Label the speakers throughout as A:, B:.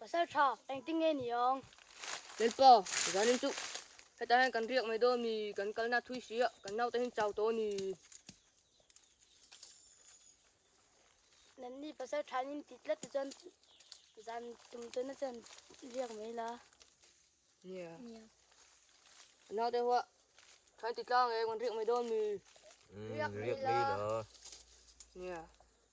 A: Pasal tha, engtin nge ni ang? Lalpa, zanin chu hetah hian kan riak mai dawn mi kan kalna thui si a, kan naute hin chau tawh a ni. Nanni pasal thain in ti tlat te chuan zan tum tawna chuan riak mai la. Nia. Nia. Naute hoa, thain ti tlang e kan riak mai dawn mi. Riak mai la. Nia.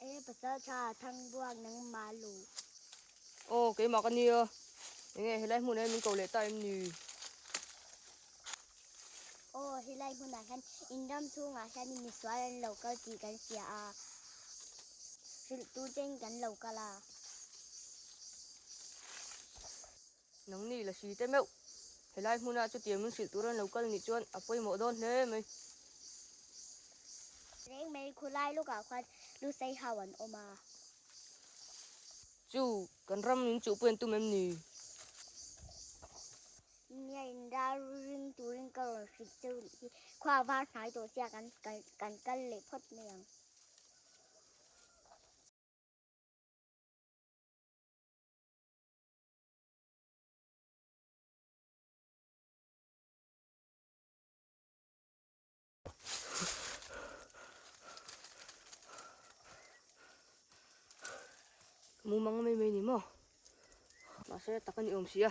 A: Eng nge pasal tha thang buak nang ma lo. Ô kei mak ani a. Eng nge helai hmun ah min ko leh ta em ni. Ô helai hmun ah hian in ram chhung ah hian mi sual an lo kal tih kan hria a. Hrilh tu ten kan lo kal a. Nang ni la si te meuh. Helai hmuna chutiang min hrilh tur an lo kal nih chuan a pawimawh dawn hle mai. Reng mai khawlai lawkah khuan Lusei ho an awm a. Chu kan ram in chuhpui an tum em ni? Nia in ral ring turin ka rawn hrilh cheu rih hi. Khua var hnai tawh sia kan kan kal leh phawt mai ang. mumang mai mai ni maw mahse tak a ni awm si a.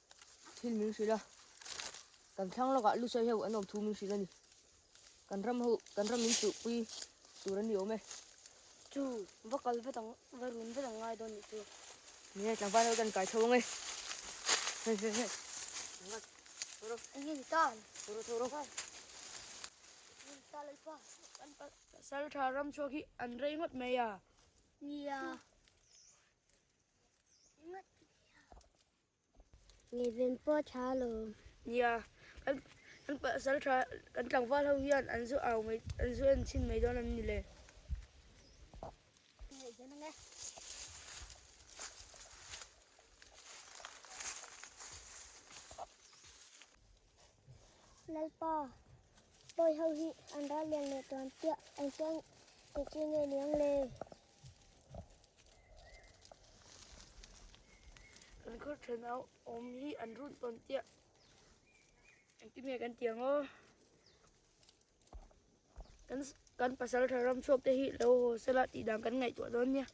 A: Thil min hrilh a, kan thlang lawkah Lusai ho an awm thu min hrilh a ni. Kan ram ho, kan ram min tuhpui tur an ni awm e. Chu va kal vet ang, va run vet ang ngai dawn nih chu. Nge tlangval ho kan kai tho ang e. Hei hei hei. Ngat. Thoro. Anh hi tan. Thoro thoro. Anh hi tan lal pa. Anh pa. Saltha ram chhuak hi an rei ngot mai a. Nia. Ngat. Ngeiben pawh thla lo. Nia, kan kan pasal tha kan tlangval ho hian an zu au mai an zu en chhin mai dawn an ni le. Lalpa pawi ho hi an ral lian leh tuan piah engtiang te chu nge niang le. Kan khaw then a awm hi an run tawn chiah engti nge kan tih ang aw kan kan pasal tha ram chhuak te hi lo ho sela tih dang kan ngaihtuah dawn nia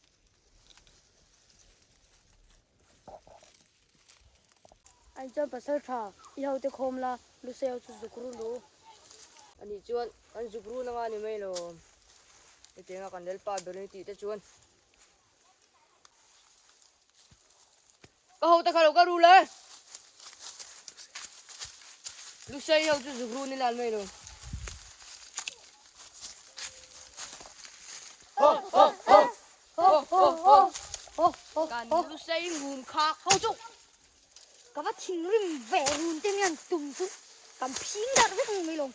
A: Ani chuan pasal tha, i hote khawm la, Luseo chu zuk run ru. Ani chuan kan zuk run anga ni mai lo. Hetianga kan lal pa ber ni tih te chuan, Ka hote kha lo ka ru la, Luseo i ho chu zuk ru ni lan mai lo. Kan lu sei hun kha ho chu ka va thing rim ve hun te mian tum chu kan phing dar vek ni mai lo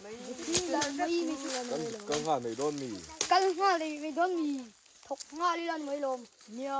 A: mai phing dar mai ni chu kan mai lo kal nga nei don mi kal nga nei mai don mi thok nga li lan mai lo nia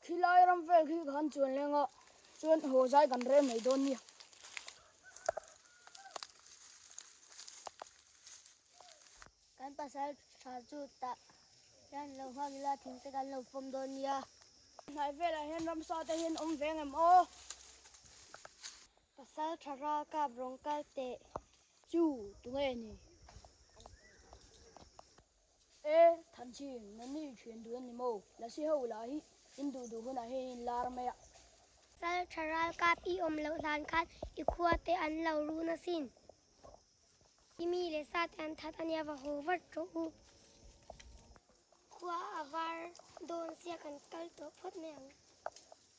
A: Khi lai ram vel khi kha an chuan leng a, chuan haw zai kan rel mai dawn nia. Kan pasal tha chu tah hian lo nghak ila thing te kan lo pawm dawn nia. Hnai velah hian ramsa te hian awm veng em aw? Pasal tha ralkap rawn kal teh chu tunge a ni? E, Thanchi, na nih thian duh a ni maw? La si ho lah hi in duh duh hunah hian in lar mai a. Sal tha ralkap i awm loh hlan khan i khuate an lo ru nasin i mi leh sa te an that a nia, va haw vat rawh u. Khua a var dawn sia kan kal tawh phawt mai ang.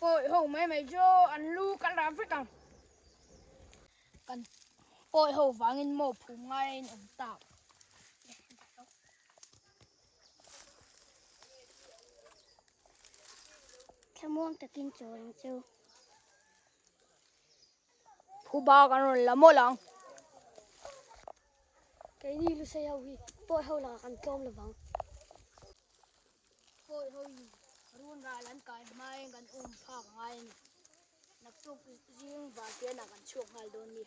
A: Pawih ho mai mai chu an lu ka la vek ang. Kan pawih ho vangin mo phu ngai in awm ta. Thlamuang takin chaw in chu. Phu ba kan rawn la mawlh ang. Keini Lusei ho hi pawi ho lakah kan tlawm lovang. Pawi ho hi runral an kai hmain kan awm phak ngai a ni. Naktuk zing vantena kan chhuak nghal dawn nia.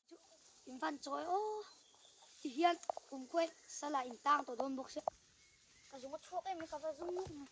A: In van chawi aw ti hian kum khuai sala in tang tawh dawn bawk se. Ka zung a chhuak em ka va zung ngawk mai.